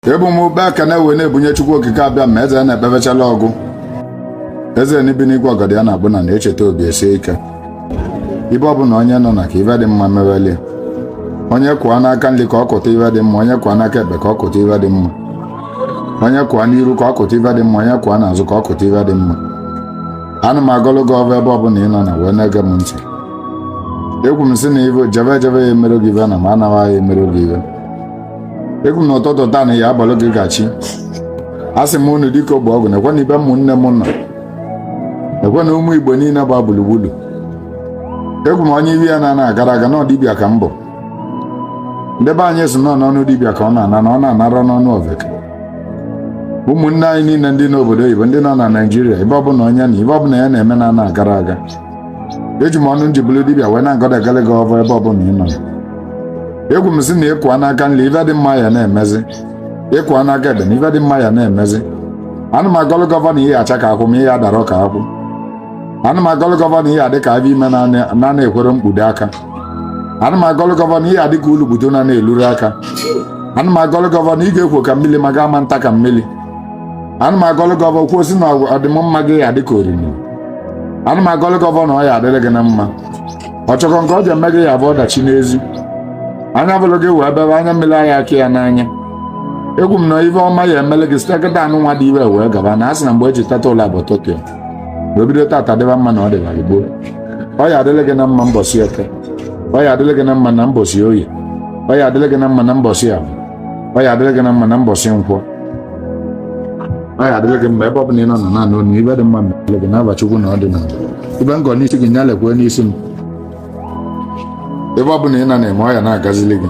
ebu m ụkpa ekene wee na-ebunye chukwu okike abịama eze na-ekpebechala ọgụ eze na-ebi n'igwe ọgọdọ ya na-akpụ n'ana echeta obi esie ike ebe ọ bụla onye nọ na ka ive dị mma mewelie onye kụa n'aka nri ka ọ kụta ive dị mma onye kụa n'aka ekpe ka ọ kụta ive dị mma onye kụa n'iru ka ọ kụta ive dị mma onye kụa n'azụ ka ọ kụta ive dị mma ana m agọlụ gị ọvọ ebe ọbụla ị nọ na wee na-ege m ntị ekwu m sị na ị jebe ejebe ya emerọ gị ive na ma ị nawa ya emerọ gị ive ekwu m na ụtụtụ taa na ọ ya abụlụ gị gachi asị m unu dịka ogbe ọgwụ na-ekwe na ibe ụmụnne m nọ ekwe na ụmụ igbo niile gba gburugburu ekwu m onye ive ya na-ana agarọ aga na ọ dibịa ka m bụ ndị be anyị sị na ọ n'ọnụ dibịa ka ọ na-ana na ọ na-anarọ n'ọnụ oveke ụmụnne anyị niile ndị nọ obodo oyibo ndị nọ na naijiria ebe ọbụla onye nọ ive ọbụla ya na-eme na-ana agarọ aga eji m ọnụ m ji bụlụ dibịa wee na-agọlụ agọlụ gị ọvọ ebe ọbụla ị nọ ekwu m sị na ị kụa n'aka nri ife dị mma ya na-emezi ị kụa n'aka ekpe na ife dị mma ya na-emezi ana m agọlụ gị ọvọ na ị ya acha ka akwụ ma ị ya adarọ ka akwụ ana m agọlụ gị ọvọ na ị ya adị ka avọ ime na-ana ekwerọ mkpudo aka ana m agọlụ gị ọvọ na ị ya adị ka ulu gbudo na-ana elurọ aka ana m agọlụ gị ọvọ na ị ga-ekwo ka mmiri ma ga ama nta ka mmiri ana m agọlụ gị ọvọ kwuo sị na ọdịmma gị ya dịka oriri ana m agọlụ gị ọvọ na ọ ya adịrị gị na mma ọchọkọ nke ọ ja eme gị ya bụ ọdachi n'ezi anya bụlụ gị wee bebe anya mmiri anya aka ya n'anya ekwu m na ive ọma ya emele gị site kịtaa nụnwa dị ive wee gaba na a sị na mgbe eji teta ụla abụ ụtụtụ ya ma o bido taata dịba mma na ọ dịbara gboo ọ ya adịrị gị na mma mbọsị eke ọ ya adịrị gị na mma na mbọsị oye ọ ya adịrị gị na mma na mbọsị avọ ọ ya adịrị gị na mma na mbọsị nkwọ ọ ya adịrị gị mma ebe ọ bụla ị nọ na naanị onu ive dị mma mere gị n'ava chukwu na ọ dị n'ala ive m gọ n'isi gị ya lekwe n'isi m ebe ọ bụla ị nọ na-eme ọ ya na-agazili gị